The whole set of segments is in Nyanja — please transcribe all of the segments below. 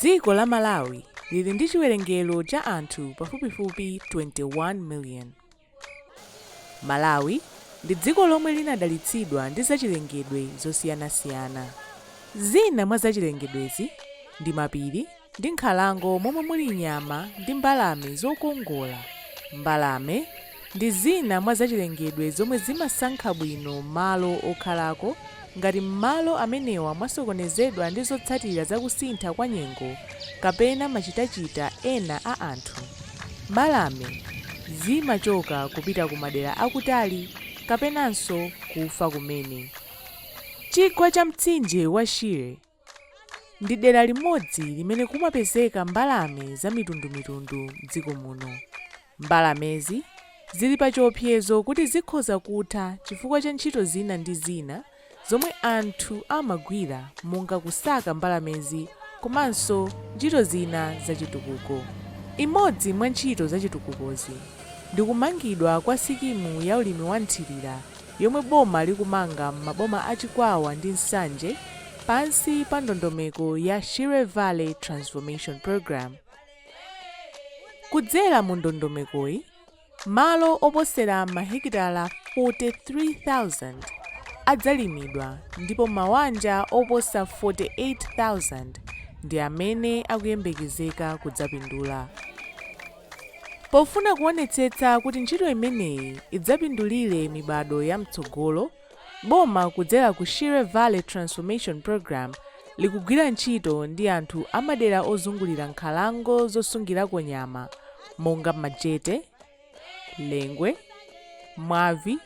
dziko la malawi lili ndi chiwerengero cha anthu pafupifupi 21 million Malawi ndi dziko lomwe linadalitsidwa ndi zachilengedwe zosiyanasiyana. Zina mwa zachilengedwezi ndi mapiri ndi nkhalango momwe muli nyama ndi mbalame zokongola. Mbalame ndi zina mwa zachilengedwe zomwe zimasankha bwino malo okhalako Ngati m'malo amenewa mwasokonezedwa ndi zotsatira za kusintha kwa nyengo kapena machitachita ena a anthu, mbalame zimachoka kupita ku madera akutali kapenanso kufa kumene. Chigwa cha mtsinje wa Shire. ndi dera limodzi limene kumapezeka mbalame zamitundumitundu m'dziko muno. Mbalamezi zili pachiopsezo kuti zikhoza kutha chifukwa cha ntchito zina ndi zina zomwe anthu amagwira monga kusaka mbalamezi komanso ntchito zina zachitukuko. Imodzi mwa ntchito zachitukukozi ndi kumangidwa kwa sikimu ya ulimi wa mthirira yomwe boma likumanga m'maboma a Chikwawa ndi Nsanje pansi pa ndondomeko ya Shire Valley Transformation Programme. Kudzera mu ndondomekoyi, malo oposera mahekitala 43,000 adzalimidwa ndipo mawanja oposa 48,000 ndi amene akuyembekezeka kudzapindula. Pofuna kuonetsetsa kuti ntchito imeneyi idzapindulire mibadwo ya mtsogolo, boma kudzera ku Shire Valley Transformation Programme likugwira ntchito ndi anthu a madera ozungulira nkhalango zosungirako nyama monga Majete, Lengwe, Mwavi,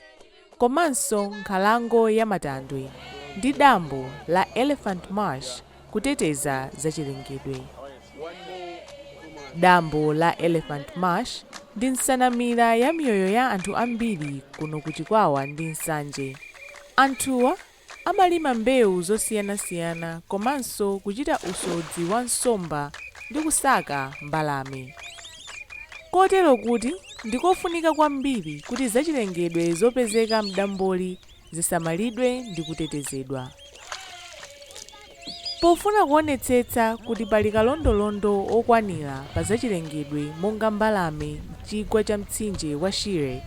komanso nkhalango ya Matandwe ndi dambo la Elephant Marsh kuteteza zachilengedwe. Dambo la Elephant Marsh ndi nsanamira ya miyoyo ya anthu ambiri kuno ku Chikwawa ndi Nsanje. Anthuwa Amalima mbewu zosiyanasiyana komanso kuchita usodzi wa nsomba ndi kusaka mbalame. Kotero kuti ndi kofunika kwambiri kuti zachilengedwe zopezeka m'damboli zisamalidwe ndi kutetezedwa. Pofuna kuonetsetsa kuti pali kalondolondo wokwanira pa zachilengedwe monga mbalame m'chigwa cha mtsinje wa Shire,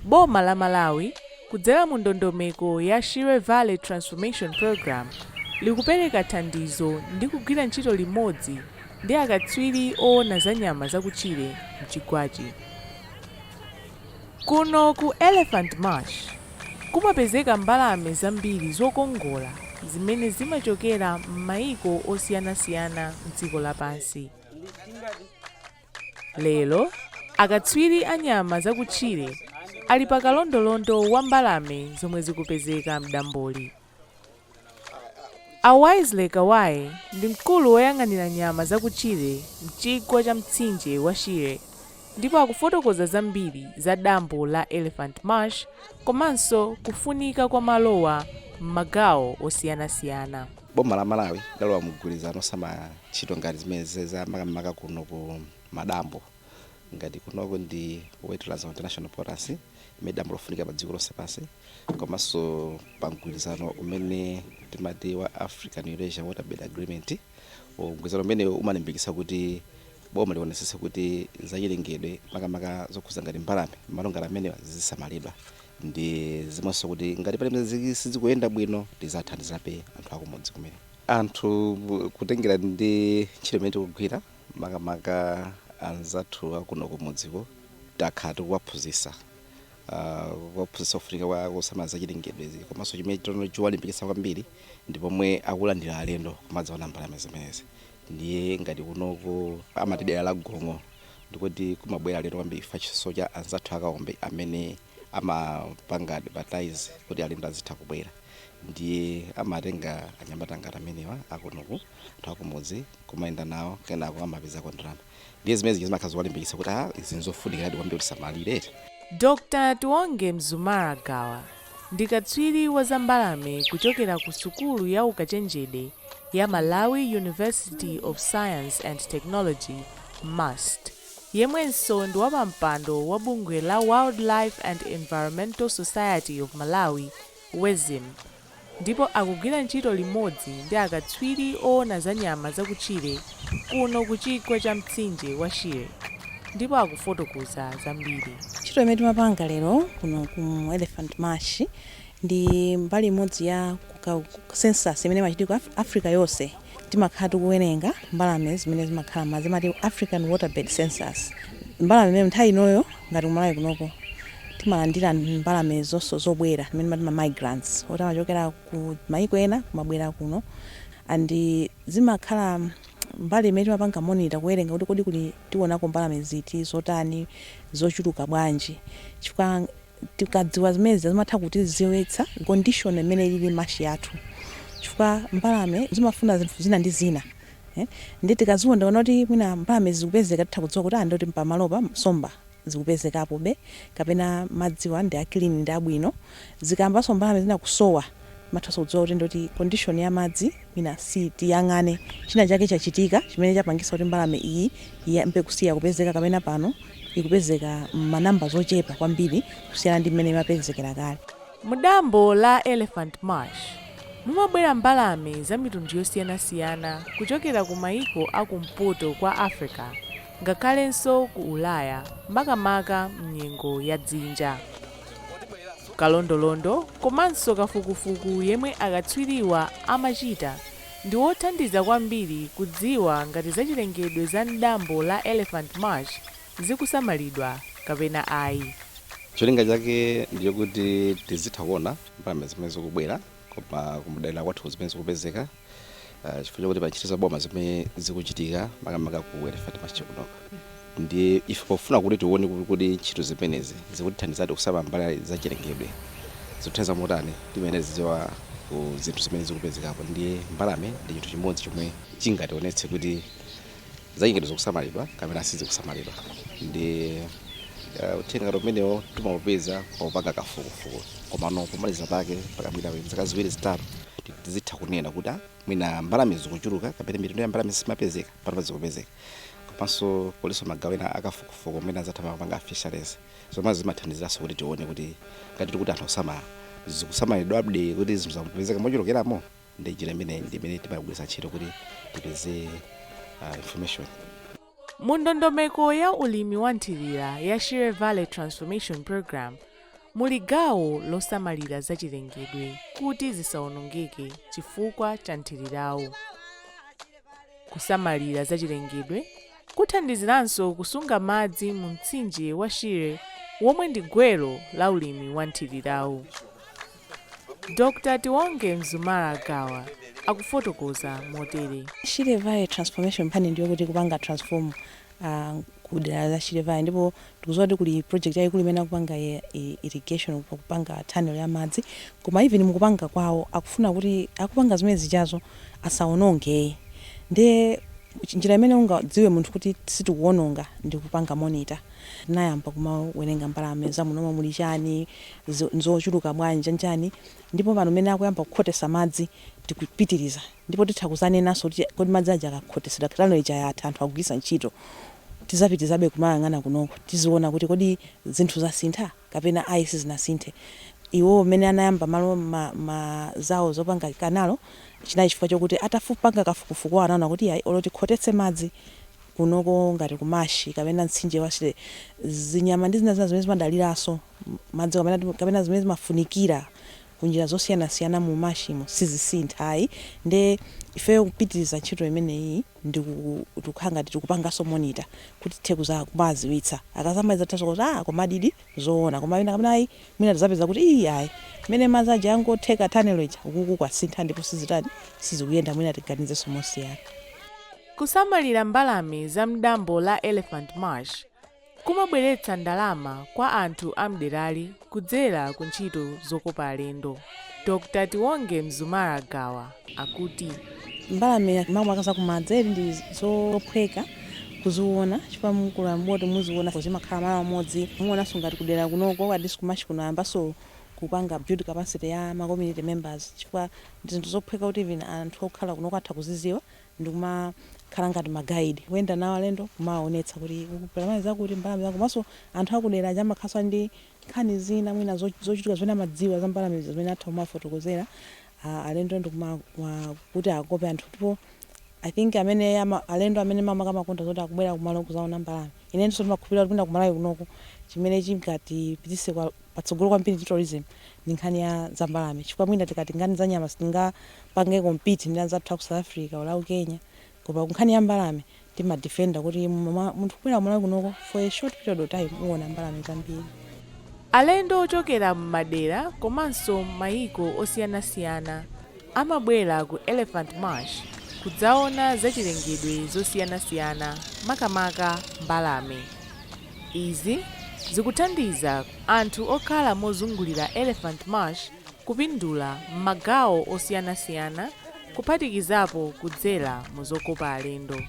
boma la Malawi kudzera mu ndondomeko ya Shire Valley Transformation Programme likupereka thandizo ndi kugwira ntchito limodzi ndi akatswiri oona za nyama zakutchire m'chigwachi. Kuno ku Elephant Marsh kumapezeka mbalame zambiri zokongola zimene zimachokera m'mayiko osiyanasiyana m'dziko lapansi. Lero, akatswiri a nyama zakutchire ali pakalondolondo wa mbalame zomwe zikupezeka m'damboli. A Wisely Kawaye ndi mkulu woyang'anira nyama zakutchire m'chigwa cha mtsinje wa Shire ndipo akufotokoza zambiri za dambo la Elephant Marsh komanso kufunika kwa malowa m'magawo osiyanasiyana. Boma la Malawi lidalowa mumgwirizano wosamala ntchito ngati zimenezi za makamaka kuno ku madambo. ngati kunoko ndi wetland ya international importance imene dambo lofunika pa dziko lonse pansi komanso pa mgwirizano umene timati wa African Eurasian Waterbird Agreement O, mgwirizano umene umalimbikitsa kuti boma lionetsetse kuti zachilengedwe makamaka zokhuza ngati mbalame malo ngati amenewa zizisamalidwa ndi zimenso kuti ngati pamene ziki- sizikuyenda bwino tizithandizabe anthu akumudzi kumene anthu kutengera ndi ntchito imene tikugwira makamaka anzathu akunoku mudziku takhala tikuwaphunzisa kuwaphunzisa kufunika kwa kusamala zachilengedwe komanso chimene tono chiwalimbikitsa kwambiri ndi pomwe akulandira alendo kumadzaona mbalame zimenezi ndiye ngati kunoko amati dera la gong'o ndikuti kumabwera alendo kwambiri chifukwa chiso cha anzathu a Kaombe amene amapanga advertise kuti alendo azitha kubwera ndiye amatenga anyamata ngati amenewa akunoku anthu akumudzi kumayenda nawo kenako amapezako ndalama ndiye zimene zija zimakhala zowalimbikitsa kuti a izi nzofunikiradi kwambiri kuti tisamalire eti Dr. Tiwonge Mzumara Gawa ndi katswiri wa za mbalame kuchokera ku sukulu ya ukachenjede ya Malawi University of Science and Technology, MUST, yemwenso ndi wapampando wa bungwe la Wildlife and Environmental Society of Malawi, WESM, ndipo akugwira ntchito limodzi ndi akatswiri oona za nyama zakutchire kuno ku chigwa cha mtsinje wa Shire ndipo akufotokoza zambiri. Ntchito imene timapanga lero kuno ku Elephant Marsh ndi mbali imodzi ya census imene imachitika ku Africa yonse. Timakhala tikuwerenga mbalame zimene zimakhala m'madzi, amati African Waterbird Census. Mbalame imene nthawi inoyo ngati ku Malawi kunoko timalandira mbalame zonso zobwera timene timati ma migrants zoti zimachokera ku maiko ena kumabwera kuno and zimakhala mbalame zimene timapanga monitor kuwerenga kuti kodi kuno tiwonako mbalame ziti zotani zochuluka bwanji chifukwa Tikadziwa zimene zija zimatha kutidziwitsa condition imene ilili marsh yathu chifukwa mbalame zimafuna zinthu zina ndi zina eeh ndiye tikadziwa tikaona kuti mwina mbalamezi zikupezeka titha kudziwa kuti aah ndiye kuti pamalopa nsomba zikupezekapobe kapena madziwa ndi a clean ndi abwino. Zikayambanso mbalame zina kusowa. Timathanso kudziwa kuti ndiye kuti condition ya madzi mwina si tiyang'ane china chake chachitika chimene chapangisa kuti mbalame iyi iyambe kusiya kupezeka kapena pano ikupezeka mma numbers ochepa kwambiri kusiyana ndi mmene imapezekera kale. Mu dambo la Elephant Marsh mumabwera mbalame za mitundu yosiyanasiyana kuchokera ku maiko a ku mpoto kwa Africa ngakhalenso ku Ulaya makamaka mnyengo ya dzinja. Kalondolondo komanso kafukufuku yemwe akatswiriwa amachita ndi wothandiza kwambiri kudziwa ngati zachilengedwe za m'dambo la Elephant Marsh zikusamalidwa kapena ayi. Cholinga chake ndi chokuti tizitha kuona mbalame zimene zikubwera koma kudera kwathu kuno zimene zikupezeka. Ah, chifukwa chakuti pa ntchito za boma zimene zikuchitika makamaka ku elephant marsh kuno ndiye ife pofuna kuti tione kuti kodi ntchito zimenezi zikutithandizadi kusamala za chilengedwe zikuthandiza motani timayenera tidziwe ku zinthu zimene zikupezekapo ndiye mbalame ndi chinthu chimodzi chomwe chingationetse kuti zachilengedwe zikusamalidwa kapena sizikusamalidwa ndiye uh, uthenga ngati umenewo timaupeza popanga kafukufuku komano pomaliza pake pakapita zaka ziwiri zitatu tizitha kunena kuti ah, mwina mbalame zikuchuluka kapena mitundu ya mbalame sizimapezeka panopa zikupezeka komanso kulinso magawo ena akafukufuku amene anzathu amapanga fisheries zomwe zimathandiziranso kuti tione kuti ngati tikuti zinthu zosamala zikusamalidwa ndiye kuti zinthu zikupezeka mochulukeramo ndiye njira imeneyi ndi imene timagwiritsa ntchito kuti tipeze uh, information mu ndondomeko ya ulimi wa nthirira ya shire valley transformation program muli gawo losamalira zachilengedwe kuti zisawonongeke chifukwa cha nthirirawu kusamalira zachilengedwe kuthandiziranso kusunga madzi mu mtsinje wa shire womwe ndi gwero la ulimi wa nthirirawu Dr. Tiwonge Mzumara Gawa akufotokoza motere. Shire Valley Transformation plan ndi yokuti kupanga transform ku dera la Shire Valley ndipo tikudziwa kuti kuli project yayikulu imene akupanga ya irrigation kupanga tunnel ya madzi koma even mukupanga kwawo akufuna kuti akupanga zimene zijazo asawononge ndiye njira imene ungadziwe munthu kuti sitikuwononga ndi kupanga monitor tinayamba kumawerenga mbalame za mmenemo muli chani Izo nzochuluka bwanji, nchani? Ndipo pano mmene akuyamba kukhotesa madzi, tikupitiriza. Ndipo titha kuzanenanso kuti, Kodi madzi aja akakhotesedwa, canal ija yatha, anthu akugwiritsa ntchito? Tizapitirizabe kumayang'ana kunoko, tiziona kuti kodi zinthu zasintha, kapena ayi sizinasinthe. Iwowo mmene anayamba malo, ma, ma, zawo zopanga canal, chinali chifukwa chokuti atafu, panga kafukufuku wawo anaona kuti iyayi, olo tikhotetse madzi kunoko ngati ku marsh kapena mtsinje wa Shire, zinyama ndi zina zina zimene zimadaliranso. madzi kapena kapena zimene zimafunikira kunjira zosiyanasiyana mu marsh mo sizisintha ayi nde ifeyo kupitiriza ntchito imeneyi ndi tikukhala ngati tikupanganso monitor kuti tithe kumawadziwitsa akazamaliza tithanso kuti ah komadidi zoona koma ina kapena ayi mwina tizapeza kuti ii ayi mmene madzi aja angotheka tunnel ija ukuku kwasintha ndipo sizitani sizikuyenda mwina tiganizenso mosiyana. Kusamalira mbalame za m'dambo la Elephant Marsh. kumabweretsa ndalama kwa anthu a m'derali kudzera ku ntchito zokopa alendo. Dr. Tiwonge Mzumara Gawa akuti. Mbalame makamaka za kumadzi ndi zophweka kuziona chifukwa mukalowa m'boti muziona zimakhala malo amodzi muonanso ngati kudera kunoko at least ku marsh kuno ayambanso kupanga build capacity ya ma community members chifukwa ndi zinthu zophweka kuti even anthu okhala kunoko atha kuzidziwa ndikumakhala ngati ma guide kuyenda nawo alendo kumawaonetsa kuti uku pali mbalame zakuti mbalame zakuti komanso anthu akudera aja amakhalanso ali ndi nkhani zina mwina zo- zochitika zimene amadziwa za mbalame zija zimene atha kumafotokozera ah, alendo ndikuma wa- kuti akope anthu ndipo i think amene ama, alendo amene makamaka amakonda zoti akubwera kumalo kuzaona mbalame inenso ndimakhulupirira kuti mwina ku Malawi kunoko chimene chingatipitise kwa- patsogolo kwambiri ku tourism ndi nkhani ya za mbalame chifukwa mwina tikati nkhani za nyama sitingapange compete ndi anzathu a ku South Africa or a ku Kenya koma ku nkhani ya mbalame tima defender kuti mwa- munthu kubwera ku Malawi kunoko for a short period of time uwona mbalame zambiri Alendo ochokera m'madera komanso m'mayiko osiyanasiyana amabwera ku Elephant Marsh kudzaona zachilengedwe zosiyanasiyana makamaka mbalame. Izi zikuthandiza anthu okhala mozungulira Elephant Marsh kupindula m'magawo osiyanasiyana kuphatikizapo kudzera mu zokopa alendo.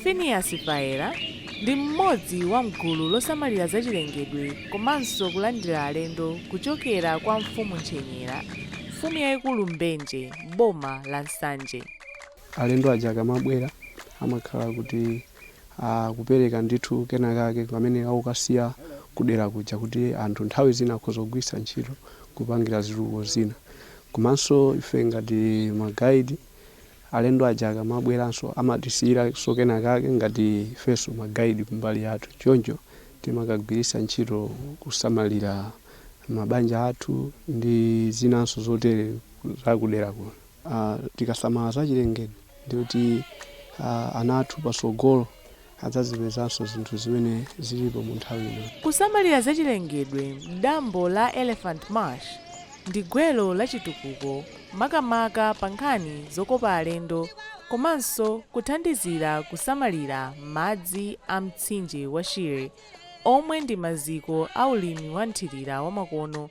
Phineas Faira ndi mmodzi wa m'gulu losamalira zachilengedwe komanso kulandira alendo kuchokera kwa Mfumu Ntchenyera, Mfumu yaikulu Mbenje boma la Nsanje. Alendo aja akamabwera amakhala kuti. akupereka ndithu kenakake kamene akukasiya kudera kuja kuti anthu nthawi zina akhoza kugwiritsa ntchito kupangira zitukuko zina komanso ife ngati magaidi alendo aja akamabweranso amatisiyiranso kenakake ngati ifenso magaidi kumbali yathu choncho timakagwiritsa ntchito kusamalira mabanja athu ndi zinanso zotere zakudera kuno Tikasamala zachilengedwe ndiye kuti ana athu patsogolo adzazipezanso zinthu zimene zilipo mu nthawi ino. Kusamalira zachilengedwe m'dambo la Elephant Marsh ndi gwero la chitukuko makamaka pa nkhani zokopa alendo komanso kuthandizira kusamalira madzi a mtsinje wa Shire omwe ndi maziko a ulimi wa mthirira wamakono